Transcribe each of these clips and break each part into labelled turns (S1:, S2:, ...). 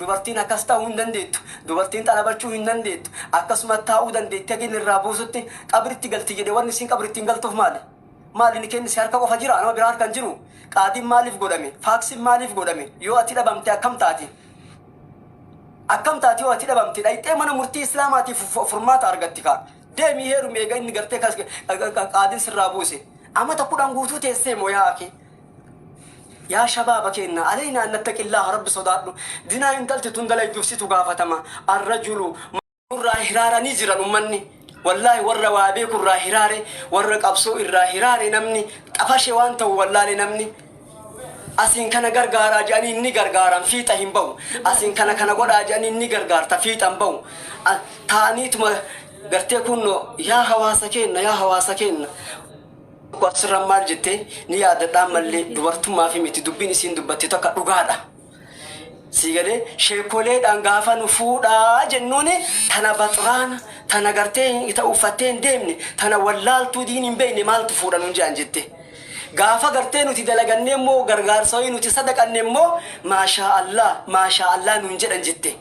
S1: Dubartiin akkas ta'uu hin dandeettu. Dubartiin xalabachuu hin dandeettu. Akkasuma taa'uu dandeetti haga inni irraa buusutti qabritti galti jedhe wanni isiin qabritti hin galtuuf maali? Maali inni kennise harka qofa jira nama biraa harka hin jiru. Qaadiin maaliif godhame? Faaksiin maaliif godhame? Yoo ati dhabamte akkam taati? Akkam taati yoo ati dhabamte dhayxee mana murtii islaamaatiif fu- furmaata argatti kaa. Deemii heerumi eega inni gartee kas- qaadiin sirraa buuse. Amata kudhan guutuu teessee moo yaa akii? Yaa shabaaba keenna aleynaa an nattaqillaaha rabbi sodaadhu dinaa intalti tun dalayduuf situ gaafatama arrajulu man. nurraa hiraaranii jiran ummanni wallaahi warra waa beeku irraa hiraare warra qabsoo irraa hiraare namni xafashe waan ta'u wallaale namni asiin kana gargaaraa jedhanii inni gargaaran fiixa hin bahu asiin kana kana godhaa jedhanii inni gargaarta fiixa hin bahu A- taa'aniituma gartee kunno yaa hawaasa keenna yaa hawaasa keenna Tokko asirra maal jette ni yaadadhaa mallee dubartummaaf miti dubbiin isiin dubbatte takka dhugaadha. Sii galee sheekoleedhaan gaafa nu fuudhaa jennuun tana baxraana tana gartee hin ta'u uffattee hin deemne tana wallaaltuu diin hin beekne maaltu fuudha nuun jedhan jette. Gaafa gartee nuti dalagannee immoo gargaarsa wayii nuti sadaqanne immoo maashaa Allah maashaa Allah nuun jedhan jette.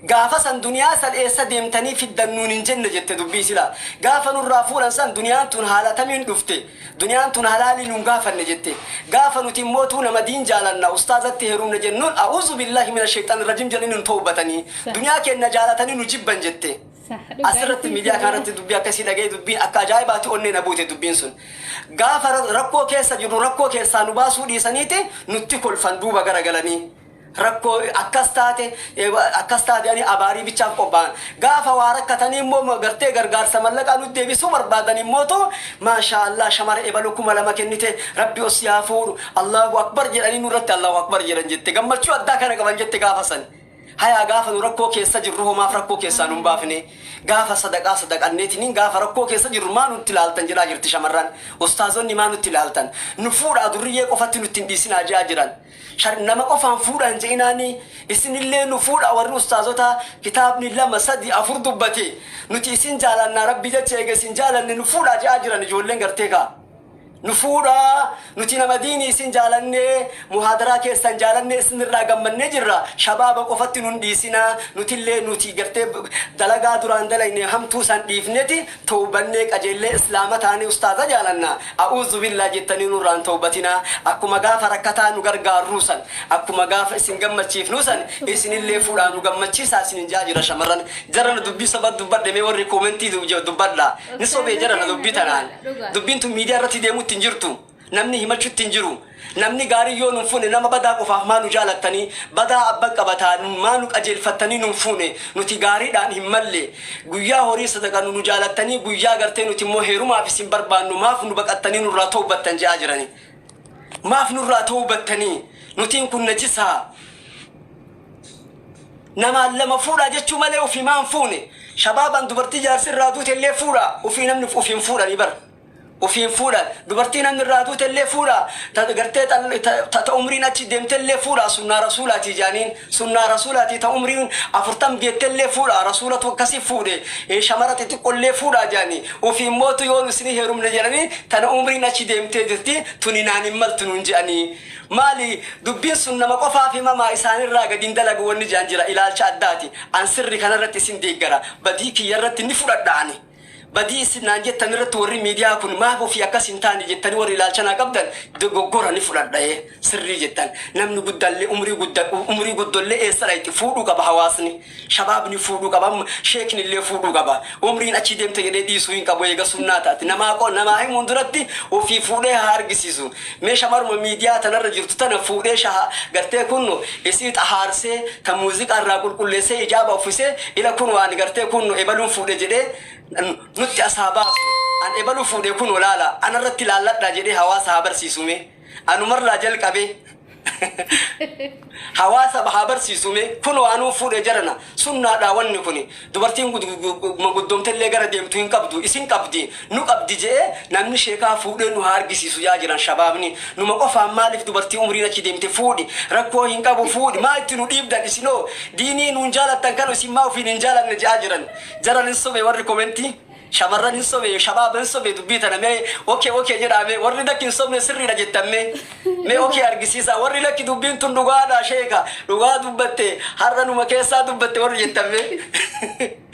S1: Gaafa san duniyaa san eessa deemtanii fiddan nuun hin jenne jette dubbii silaa gaafa nurraa fuudhan san duniyaan tun haala tamiin dhufte duniyaan tun halaalii nuun gaafanne jette gaafa nuti immootuu nama diin jaalanna ustaazatti heerumne jennuun a'uuzubillahi minasheyxanirrajim jedhanii nun towbatanii Sah. duniyaa keenna jaalatanii nu jibban jette Sah. Dhugaa asirratti isiin miidiyaa sirrii. kanarratti dubbii akkasii dhaga'ee dubbiin akka ajaa'ibaatti onnee na buute dubbiin sun gaafa ra- rakkoo keessa jirru rakkoo keessaa nu baasuu dhiisaniiti nutti kolfan duuba garagalanii Rakkoo akkas taate akkas taate jedhanii abaarii bichaaf qophaa'an. Gaafa waa rakkatanii immoo gartee gargaarsa mallaqaa nut deebisuu barbaadan immootu maashaa Allah shamara ebalu kuma lama kennite rabbi ol si haa fuudhu Allahu akbar jedhanii nurratti Allahu akbar jedhan jette gammachuu addaa kana qaban jette gaafa san. Hayaa gaafa nu rakkoo keessa jirru hoo maaf rakkoo keessaa nun baafne gaafa sadaqaa sadaqanneetiniin gaafa rakkoo keessa jirru maa nutti ilaaltan jedhaa jirti shamarran ustaazonni maa nutti ilaaltan nu fuudhaa durriyyee qofatti nutti hin dhiisinaa jedhaa jiran. Shar nama qofaan fuudha hin je'inaanii isinillee nu fuudha warri ustaazotaa kitaabni lama sadii afur dubbate nuti isin jaalannaa rabbii jecha eega isin jaalanne nu fuudhaa je'aa jiran ijoolleen gartee kaa nu fuudhaa nuti nama diinii isin jaalannee muhaadaraa keessan jaalannee isinirraa gammannee jirra shabaaba qofatti nun dhiisinaa nutillee nuti gartee dalagaa duraan dalaynee hamtuu san dhiifneti Towbannee qajeellee islaama taanee ustaaza jaalanna a'uuzubillaah jettanii nurraa hin towbatinaa akkuma gaafa rakkataa nu gargaarruu san akkuma gaafa isin gammachiifnuu san isinillee fuudhaa nu gammachiisaa isiniin ja'aa jira shamarran jarana dubbii sobaa dubbadhe mee warri koomentii dubbadhaa ni sobee jarana dubbii tanaan dubbiin tun miidiyaa irratti deemuutti hin jirtu Namni himachutti hin jiru. Namni gaariin yoo nu hin fuune nama badaa qofaaf maa nu jaalattanii badaa abban qabataa maa nu qajeelfattanii nu hin fuune nuti gaariidhaan hin malle guyyaa horii sadaqannu nu jaalattanii guyyaa gartee nuti immoo heerumaaf isin barbaannu maaf nu baqattanii nurraa towbattan je'aa jiranii maaf nurraa towbattanii nutiin kun najisaa namaan lama fuudhaa jechuu malee ofii maan fuune shabaaban dubartii jaarsi irraa duute illee fuudha ofii namni ofiin fuudhanii bara Ofiin fuudha. Dubartii namni irraa duutellee fuudha. Ta gartee xal ta ta ta umriin achi deemtellee fuudha. Sunnaa Rasuulaatii jaaniin. Sunnaa Rasuulaatii ta umriin afurtam geettellee fuudha. Rasuulatu akkasi fuudhe. Ee shamara xixiqqollee fuudha jaani. Ofiin mootu yoo nu isinii heerumne jedhanii tana umriin achi deemtee jirti tuni naan hin maltu nuun je'anii. Maali dubbiin sun nama qofaaf himamaa isaanirraa gadi hin dalagu wanni je'an jira. Ilaalcha addaati. An sirri kanarratti isin deeggara. Badii kiyyarratti ni fudhadha ani. Badii isin naan jettan irratti warri miidiyaa kun maaf ofii akkas hin taane jettanii warri ilaalcha naa qabdan dogoggora ni fudhadha ee sirrii jettan. Namni guddaallee umrii gudda umrii guddollee eessa dhayxi fuudhuu qaba hawaasni. Shabaabni fuudhuu qaba amma sheekni illee fuudhuu qaba. Umriin achi deemte jedhee dhiisuu hin qabu eega sunnaa taati. Namaa qo namaa himuun duratti ofii fuudhee haa argisiisu. Mee shamaruma midiyaa tanarra jirtu tana fuudhee shaha gartee kunno isii xahaarsee tan muuziqaa irraa qulqulleessee ijaaba uffisee ila kunoo ani gartee kunno ebaluun fuudhe jedhee nutti as haa baasu an ebalu fuudhe kunoo laala anarratti laalladhaa jedhee hawaasa haa barsiisu mee anumarraa jalqabee Hawaasaf haa barsiisuu mee kunoo anuu fuudhe jarana sunnaadhaa wanni kuni dubartiin guddoomtellee gara deemtu hin qabdu isin qabdi nu qabdi je'ee namni sheekaa fuudhee nu haa argisiisu ja'aa jiran shabaabni numa qofaan maalif dubartii umriin achi deemte fuudhi rakkoo hin qabu fuudhi maa itti nu dhiibdan isinoo diinii nuun jaalattan kanu isin maa ufiin hin jaalanne ja'aa jiran jaran hin sobe warri komentii Shamarran hin sobee shabaaba hin sobee dubbii tana mee ok ok jedhaa mee warri lakki hin sobne sirriidha jettan mee mee ok argisiisaa warri lakki dubbiin tun dhugaadha sheeka dhugaa dubbatte har'a numa keessaa dubbatte warri jettan mee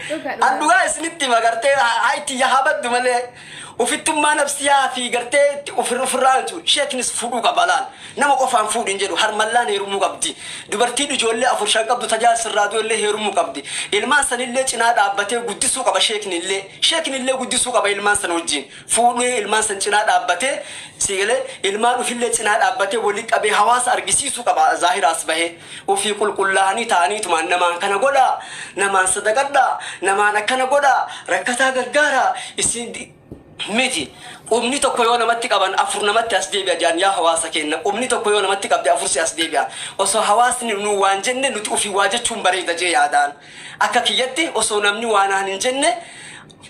S1: Dhuga an dhuga. dhugaa isinitti hima gartee hayti yaa baddu malee ufittummaa nafsiyaa fi gartee itti ofirra ofirraa jechuun sheeknis fudhuu qaba laal Nama qofaan fuudhi hin jedhu. Harmallaan heerumuu qabdi. Dubartiin ijoollee afur shan qabdu ta jaarsi irraa du'e illee heerumuu qabdi. Ilmaan san illee cinaa dhaabbatee guddisuu qaba sheekni illee. Sheekni illee guddisuu qaba ilmaan san wajjiin. Fuudhee ilmaan san cinaa dhaabbatee sii galee ilmaan ufi illee cinaa dhaabbatee wali qabee hawaasa argisiisuu qaba zaahira as bahee. Ufii qulqullaahanii ta'aniitumaan namaan kana godhaa, namaan sadaqadhaa, namaan akkana godhaa, rakkataa gargaaraa, isiin miti. Qubni tokko yoo namatti qaban afur namatti as deebi'a jedhan yaa hawaasa keenna qubni tokko yoo namatti qabde afur si as deebi'a. Osoo hawaasni nuu waan jenne nuti ufii waa jechuun bareeda jee yaadaan. Akka kiyyatti osoo namni waa naan hin jenne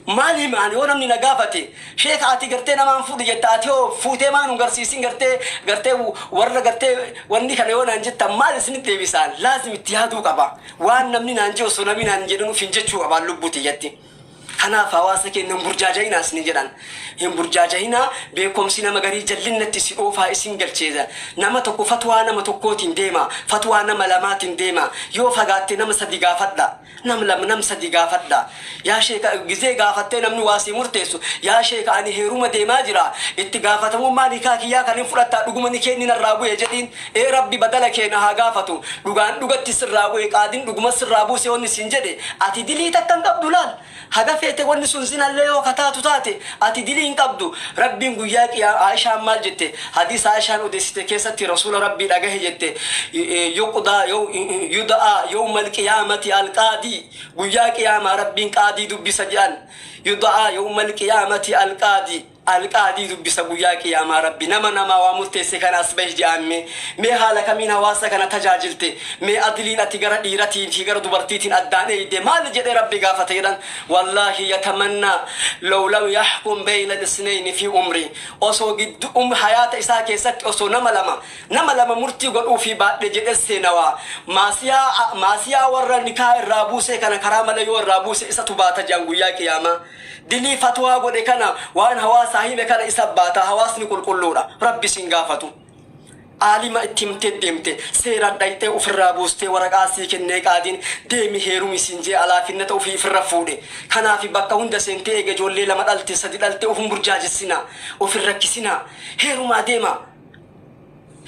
S1: maal hima ani yoo namni na gaafate sheeka ati gartee nama hin fuudhu jetta ati hoo fuutee maa nun garsiisin gartee gartee warra gartee wanni kana yoo naan jettan maal isinitti deebisaan laazim itti yaaduu qaba. Waan namni naan jee osoo namni naan hin jedhin ufiin jechuu qabaan lubbuu tiyyatti. Kanaaf hawaasa keenna hin burjaajayinaa isiniin jedhaan. Hin burjaajayinaa, beekkomsi nama garii jallinnatti si oofaa isin galcheeja. Nama tokko fatwaa nama tokkootiin deemaa, fatwaa nama lamaatiin deemaa, yoo fagaatte nama sadi gaafadhaa, nam lama nam sadi gaafadhaa. Yaa sheeka gizee gaafattee namni waa sii murteessu, yaa sheeka ani heeruma deemaa jiraa, itti gaafatamummaa nikaa kiyyaa kaniin fudhattaa dhuguma nikeenni narraa bu'e jedhiin. Ee Rabbi badala kee na haa gaafatu dhugaan dhugatti sirraa bu'e qaadin dhuguma sirraa buuse wanni siin jedhe ati dilii takka hin qabdu laal haga feete wanni sun zinallee yoo ka taatu taate ati dilii hin qabdu Rabbiin guyyaa qiyaa Aishaan maal jette hadiisa Aishaan odeessite keessatti Rasuula Rabbii dhagahe jette yuqdaa yow yuda'aa yowmal qiyaamati al qaadii guyyaa qiyaamaa Rabbiin qaadii dubbisa je'an yuda'aa yowmal qiyaamati al qaadii Alqaadii dubbisa guyyaa qiyaamaa rabbi nama namaa waa murteesse kana as bahi je'aan mee mee haala kamiin hawaasa kana tajaajilte mee adliin ati gara dhiiratiin fi gara dubartiitiin addaan eeyde maali jedhee rabbi gaafata jedhan wallaahi yatamannaa low lam yahkum bayna lisnayni fi umrii osoo giddu um hayaata isaa keessatti osoo nama lama nama lama murtii godhuufii baadhe jedhe seenawa maasiyaa maasiyaa warra nikaah irraa buusee kana karaa mala yoo irraa buuse isatu baata je'an guyyaa qiyaamaa Dilii fatwaa godhe kana waan hawaasaa hime kana isa baata hawaasni qulqulluudha rabbi sin gaafatu aalima itti himtee deemte seeraan dhayxee ufirraa buustee waraqaa sii kennee qaadiin deemi heerumi siin jee alaafinnata ufii ifirra fuudhe kanaafi bakka hunda seentee eega ijoollee lama dhalte sadi dhalte ufin burjaajessinaa ufin rakkisinaa heerumaa deema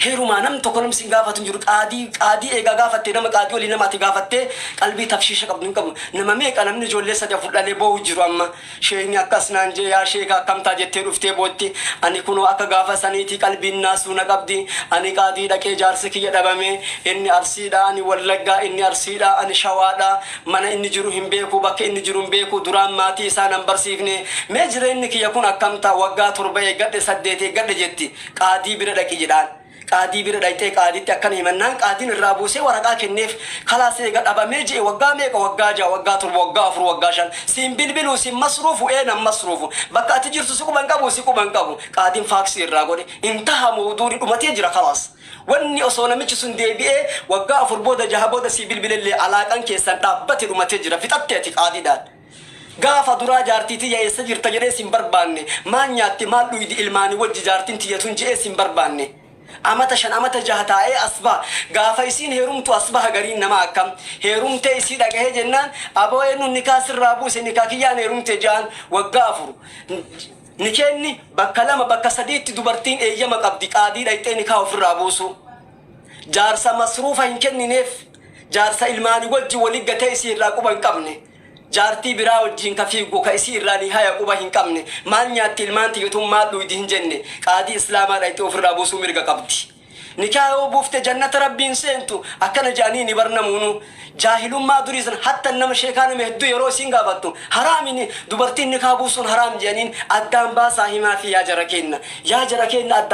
S1: Heerumaa namni tokko namni sin gaafatu hin jiru qaadii qaadii eegaa gaafatte nama qaadii olii nama ati gaafatte qalbii tafshiisha qabdu hin qabu nama meeqa namni ijoollee sadi afur dhalee boohu jiru amma sheekni akkas naan jee yaa sheeka akkamtaa jettee dhuftee bootti ani kunoo akka gaafa saniitii qalbiin naasuu na qabdi ani qaadii dhaqee jaarsi kiyya dhabame inni arsiidha ani wallaggaa inni arsiidha ani shawaadha mana inni jiru hin beeku bakka inni jiru hin beeku duraan maatii isaa nan barsiifne mee jireenni kiyya kun akkamtaa waggaa torba eeggadhe saddeet eeggadhe jetti Qaadii bira dhaqi jedhaan. Qaadii bira dhayxee qaadiitti akkana himannaan qaadiin irraa buusee waraqaa kenneef. Kalaas eega dhabamee je'e waggaa meeqa waggaa ja'a waggaa torba waggaa afur waggaa shan siin bilbiluu sin masruufu ee nan masruufu bakka ati jirtu si quba hin qabuu si quba hin qabu qaadiin faaksii irraa godhe hin taha mowduuni dhumatee jira kalaas. Wanni osoo namichi sun deebi'ee waggaa afur booda jaha booda sii bilbilellee alaaqan keessan dhaabbate dhumatee jira fixatte ati qaadiidhaan. Gaafa duraa jaartii tiyya eessa jirta jedhee sin barbaanne, maal nyaatte maal dhuydi ilmaani wajji jaartin tiyya tun je'ee sin barbaanne. Amata shan amata jaha taa'ee as baha. Gaafa isiin heerumtu as baha gariin namaa akkam. Heerumtee isii dhagahee jennaan aboo eennuun nikaa sirraa buuse nikaa kiyyaan heerumte je'aan waggaa afur Nikeenni bakka lama bakka sadiitti dubartiin eeyyama qabdi qaadii dhayxee nikaa ufirraa buusuu. Jaarsa masruufa hin kennineef. Jaarsa ilmaani wajji woli gate isii irraa quba inqamne. Jaartii biraa wajjiin ka fiiggu ka isii irraa nihaya quba hinqamne. Maal nyaatti ilmaan tiyya tun maal dhuuydi hinjenne. Qaadii islaamaa dhayxee ufirraa buusuu mirga qabdi. Nikaha yoo buufte jannata rabbii hinseentu akkana je'aniini bar namuunu. Jaahilummaa durii san hattan nama sheekaa nama hedduu yeroo isiin gaafattu haraami ni dubartiin nikaha buusuun haraam je'aniin addaan baasaa himaafii yaa jara keenna. Yaa jara keenna addaan.